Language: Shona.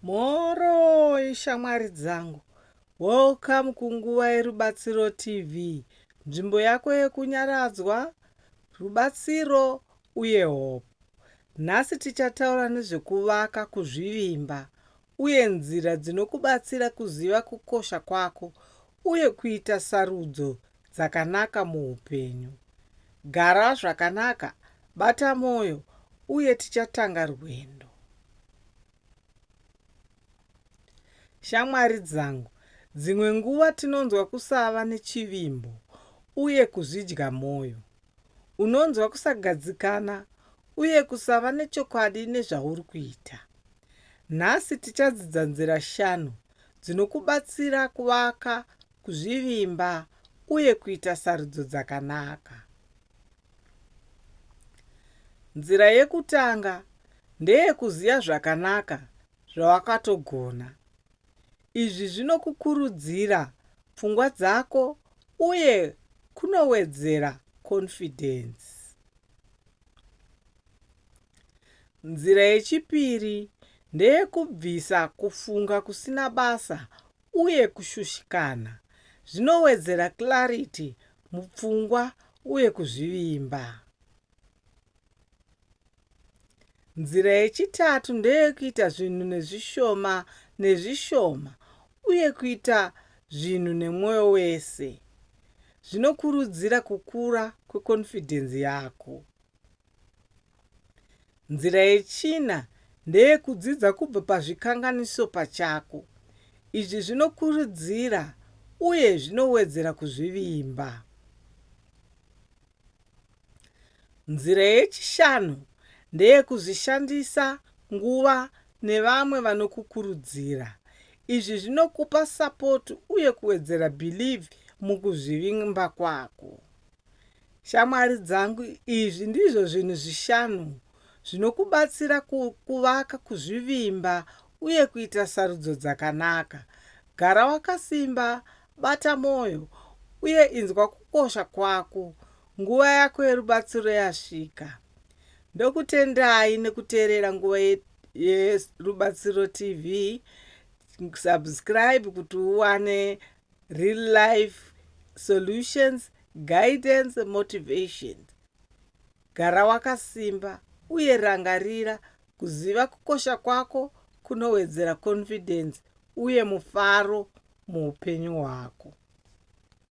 Mhoroi shamwari dzangu, welcome kunguva yeRubatsiro TV, nzvimbo yako yekunyaradzwa, rubatsiro uye hope. Nhasi tichataura nezvekuvaka kuzvivimba uye nzira dzinokubatsira kuziva kukosha kwako uye kuita sarudzo dzakanaka muupenyu. Gara zvakanaka, bata mwoyo, uye tichatanga rwendo. Shamwari dzangu, dzimwe nguva tinonzwa kusava nechivimbo uye kuzvidya mwoyo. Unonzwa kusagadzikana uye kusava nechokwadi nezvauri kuita. Nhasi tichadzidza nzira shanu dzinokubatsira kuvaka kuzvivimba uye kuita sarudzo dzakanaka. Nzira yekutanga ndeyekuziva zvakanaka zvawakatogona. Izvi zvinokukurudzira pfungwa dzako uye kunowedzera confidence. Nzira yechipiri ndeyekubvisa kufunga kusina basa uye kushushikana zvinowedzera clarity mupfungwa uye kuzvivimba. Nzira yechitatu ndeyekuita zvinhu nezvishoma nezvishoma uye kuita zvinhu nemwoyo wese. Zvinokurudzira kukura kwekonfidhenzi yako. Nzira yechina ndeyekudzidza kubva pazvikanganiso pachako. Izvi zvinokurudzira uye zvinowedzera kuzvivimba. Nzira yechishanu ndeyekuzvishandisa nguva nevamwe vanokukurudzira. Izvi zvinokupa support uye kuwedzera believe mukuzvivimba kwako. Shamwari dzangu, izvi ndizvo zvinhu zvishanu zvinokubatsira kuvaka kuzvivimba uye kuita sarudzo dzakanaka. Gara wakasimba, bata mwoyo, uye inzwa kukosha kwako. Nguva yako yerubatsiro yasvika. Ndokutendai nekuteerera Nguva yeRubatsiro TV. Subscribe kuti uwane real life solutions, guidance, motivations. Gara wakasimba uye rangarira kuziva kukosha kwako kunowedzera confidence uye mufaro muupenyu hwako.